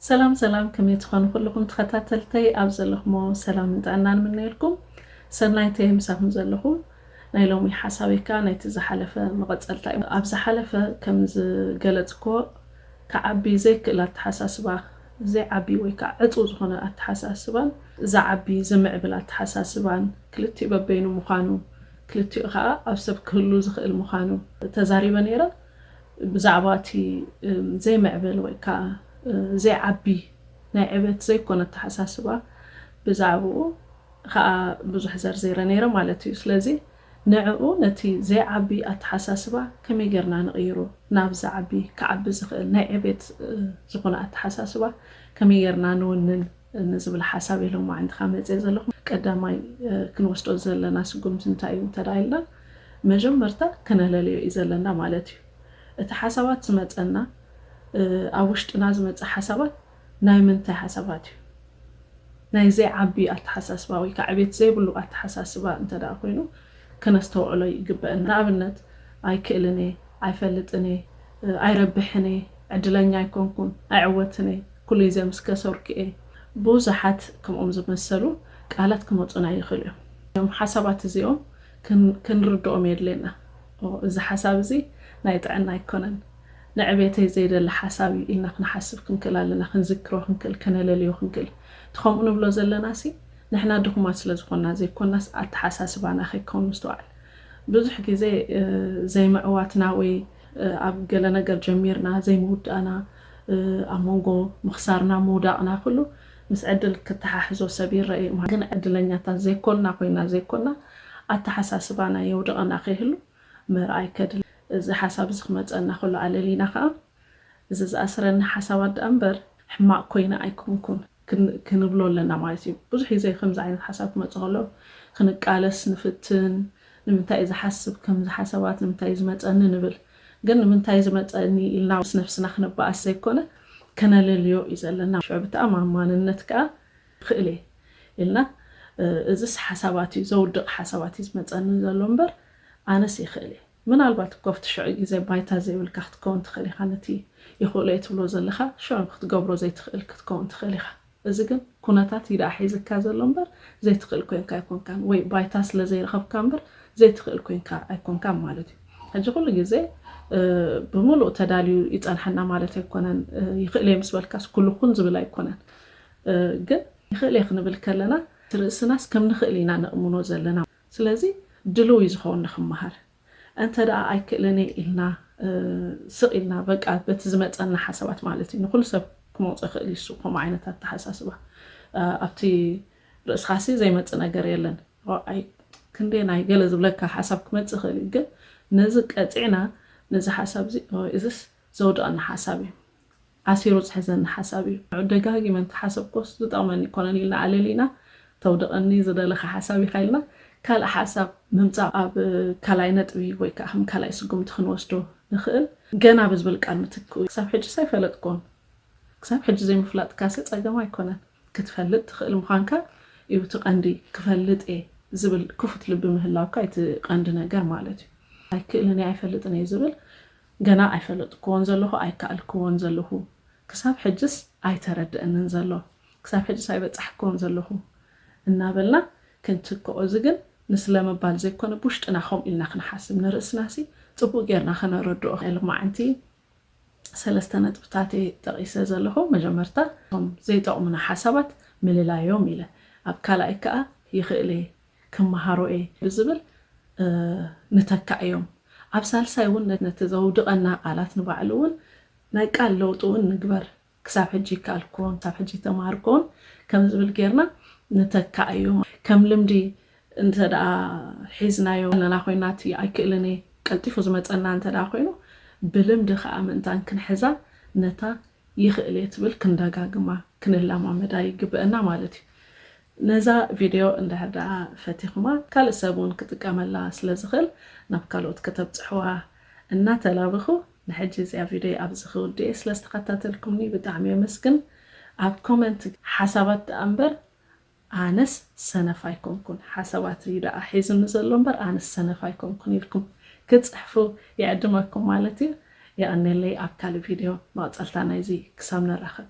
ሰላም ሰላም ከመይ ትኾኑ ኩልኹም ተኸታተልተይ ኣብ ዘለኹሞ ሰላም እንጣና ንምነየልኩም ሰናይተ ምሳኹም ዘለኹ ናይ ሎሚ ሓሳበይ ከዓ ናይቲ ዝሓለፈ መቐፀልታ እዩ ኣብ ዝሓለፈ ከም ዝገለፅኮ ክዓቢ ዘይክእል ኣተሓሳስባ ዘይዓቢ ወይ ከኣ ዕጽው ዝኾነ ኣተሓሳስባን ዝዓቢ ዝምዕብል ኣተሓሳስባን ክልቲኡ በበይኑ ምዃኑ ክልቲኡ ከኣ ኣብ ሰብ ክህሉ ዝኽእል ምዃኑ ተዛሪበ ነይረ። ብዛዕባ እቲ ዘይምዕብል ወይ ከኣ ዘይዓቢ ናይ ዕቤት ዘይኮነ ኣተሓሳስባ ብዛዕብኡ ከኣ ብዙሕ ዘርዚረ ነይረ ማለት እዩ። ስለዚ። ንዕኡ ነቲ ዘይዓቢ ኣተሓሳስባ ከመይ ጌርና ንቕይሮ? ናብ ዝዓቢ፣ ክዓቢ ዝኽእል ናይ ዕቤት ዝኾነ ኣተሓሳስባ ከመይ ጌርና ንውንን? ንዝብል ሓሳብ እየ ሎማዕንትኻ መጼ ዘለኹ። ቀዳማይ ክንወስዶ ዘለና ስጉምቲ እንታይ እዩ እንተ ኢልና መጀመርታ ክነለልዮ እዩ ዘለና ማለት እዩ። እቲ ሓሳባት ዝመጸና ኣብ ውሽጥና ዝመጸ ሓሳባት፣ ናይ ምንታይ ሓሳባት እዩ? ናይ ዘይዓቢ ኣተሓሳስባ ወይ ከኣ ዕቤት ዘይብሉ ኣተሓሳስባ እንተ ደኣ ኮይኑ ከነስተውዕሎ ይግበእና። ንኣብነት፣ ኣይክእልን እየ፣ ኣይፈልጥን እየ፣ ኣይረብሕን እየ፣ ዕድለኛ ኣይኮንኩን፣ ኣይዕወትን እየ፣ ኩሉ ግዜ ምስ ከሰርኩ እየ። ብዙሓት ከምኦም ዝመሰሉ ቃላት ክመጹና ይኽእሉ እዮም። እዞም ሓሳባት እዚኦም ክንርድኦም የድልየና። እዚ ሓሳብ እዚ ናይ ጥዕና ኣይኮነን፣ ንዕቤተይ ዘይደሊ ሓሳብ እዩ ኢልና ክንሓስብ ክንክእል ኣለና፣ ክንዝክሮ ክንክእል፣ ከነለልዮ ክንክእል። እቲ ከምኡ ንብሎ ዘለናሲ ንሕና ድኹማት ስለ ዝኾንና ዘይኮናስ ኣተሓሳስባና ከይከውን ምስትውዓል። ብዙሕ ግዜ ዘይምዕዋትና ወይ ኣብ ገለ ነገር ጀሚርና ዘይምውዳእና፣ ኣብ መንጎ ምኽሳርና ምውዳቕና ኩሉ ምስ ዕድል ክተሓሕዞ ሰብ ይረኣ እዩ ማለት ግን ዕድለኛታት ዘይኮንና ኮይና ዘይኮና ኣተሓሳስባና የውድቐና ከይህሉ ምርኣይ ከድሊ። እዚ ሓሳብ እዚ ክመጸና ከሎ ኣለሊና ከኣ እዚ ዝኣስረኒ ሓሳባት ደኣ እምበር ሕማቕ ኮይነ ኣይኮንኩን ክንብሎ ኣለና ማለት እዩ። ብዙሕ ግዜ ከምዚ ዓይነት ሓሳብ ክመጽእ ከሎ ክንቃለስ ንፍትን ንምንታይ እዩ ዝሓስብ ከምዚ ሓሳባት ንምንታይ እዩ ዝመጸኒ ንብል። ግን ንምንታይ ዝመጸኒ ኢልና ምስ ነብስና ክንበኣስ ዘይኮነ ከነለልዮ እዩ ዘለና ሽዑ ብተኣማማንነት ከኣ ይኽእል እየ ኢልና እዝስ ሓሳባት እዩ ዘውድቕ ሓሳባት እዩ ዝመጸኒ ዘሎ እምበር ኣነስ ይኽእል እየ ምናልባት እኮ ኣብቲ ሽዑ ግዜ ባይታ ዘይብልካ ክትከውን ትኽእል ኢኻ ነቲ ይኽእሎ እየ ትብሎ ዘለኻ ሽዑ ክትገብሮ ዘይትኽእል ክትከውን ትኽእል ኢኻ እዚ ግን ኩነታት እዩ ደኣ ሒዝካ ዘሎ እምበር ዘይትኽእል ኮንካ ኣይኮንካን ወይ ባይታ ስለ ዘይረኸብካ እምበር ዘይትኽእል ኮንካ ኣይኮንካን ማለት እዩ። ሕጂ ኩሉ ግዜ ብምሉእ ተዳልዩ ይጸንሓና ማለት ኣይኮነን። ይኽእል እየ ምስ በልካስ ኩሉ ኩን ዝብል ኣይኮነን። ግን ይኽእል እየ ክንብል ከለና እቲ ርእስናስ ከም ንኽእል ኢና ነእምኖ ዘለና። ስለዚ ድልው እዩ ዝኸውን ንክመሃር። እንተድኣ ኣይክእልን'የ ኢልና ስቕ ኢልና በቃ በቲ ዝመጸና ሓሳባት ማለት እዩ ንኹሉ ሰብ ክመውጾ ይኽእል እዩ እሱ ከምኡ ዓይነት ኣተሓሳስባ ኣብቲ ርእስኻሲ ዘይመጽእ ነገር የለን ኣይ ክንደየናይ ገለ ዝብለካ ሓሳብ ክመጽእ ይኽእል እዩ ግን ነዚ ቀጺዕና ነዚ ሓሳብ እዚ እዝስ ዘውድቐና ሓሳብ እዩ ኣሲሩ ዝሕዘኒ ሓሳብ እዩ። ንዑ ደጋጊመ እንተሓሰብኩዎስ ዝጠቕመኒ ኣይኮነን ኢልና ኣለሊና ተውድቐኒ ዝደለኻ ሓሳብ ኢኻ ኢልና ካልእ ሓሳብ ምምጻእ ኣብ ካልኣይ ነጥቢ ወይ ከኣ ከም ካልኣይ ስጉምቲ ክንወስዶ ንኽእል። ገና ብዝብል ቃል ምትክኡ ክሳብ ሕጅስ ኣይፈለጥኩዎን። ክሳብ ሕጂ ዘይምፍላጥካሲ ጸገም ኣይኮነን። ክትፈልጥ ትኽእል ምዃንካ እዩ እቲ ቀንዲ። ክፈልጥ እየ ዝብል ክፉት ልቢ ምህላውካ እዩ እቲ ቀንዲ ነገር ማለት እዩ። ኣይክእልን እየ ኣይፈልጥን እየ ዝብል ገና ኣይፈለጥኩዎን ዘለኹ ኣይከኣልኩዎን ዘለኹ ክሳብ ሕጅስ ኣይተረደእንን ዘሎ ክሳብ ሕጅስ ኣይበጻሕኩዎን ዘለኹ እናበልና ክንትክኦ እዚ ግን ንስለምባል ዘይኮነ ብውሽጥና ከምኡ ኢልና ክንሓስብ ንርእስናሲ ጽቡቅ ጌርና ከነረድኦ ሎማዓንቲ ሰለስተ ነጥብታት እየ ጠቂሰ ዘለኹ መጀመርታ እቶም ዘይጠቅሙና ሓሳባት ምልላዮም ኢለ ኣብ ካልኣይ ከኣ ይኽእል እየ ክመሃሮ እየ ብዝብል ንተካእ እዮም። ኣብ ሳልሳይ እውን ነቲ ዘውድቐና ቃላት ንባዕሉ እውን ናይ ቃል ለውጢ እውን ንግበር፣ ክሳብ ሕጂ ይከኣልኩዎን ክሳብ ሕጂ እተማሃርኩዎን ከም ዝብል ጌርና ንተካእ እዩ። ከም ልምዲ እንተድኣ ሒዝናዮ ኣለና ኮይና እቲ ኣይክእልን እየ ቀልጢፉ ዝመጸና እንተድኣ ኮይኑ ብልምዲ ከኣ ምእንታን ክንሕዛ ነታ ይኽእል እየ ትብል ክንደጋግማ ክንለማመዳ ይግበእና ማለት እዩ። ነዛ ቪድዮ እንድሕር ደኣ ፈቲኹማ ካልእ ሰብ እውን ክጥቀመላ ስለ ዝኽእል ናብ ካልኦት ከተብጽሑዋ እናተላበኹ ንሕጂ እዚኣ ቪድዮይ ኣብዚ ክውድእ'የ ስለ ዝተኸታተልኩምኒ ብጣዕሚ የመስግን ኣብ ኮመንት ሓሳባት ደኣ እምበር ኣነስ ሰነፍ ኣይኮንኩን ሓሳባት እዩ ደኣ ሒዙኒ ዘሎ እምበር ኣነስ ሰነፍ ኣይኮንኩን ኢልኩም ክትጽሕፉ ይዕድመኩም ማለት እዩ የቐኔለይ ኣብ ካልእ ቪድዮ መቕጸልታ ናይዚ ክሳብ ንራኸብ።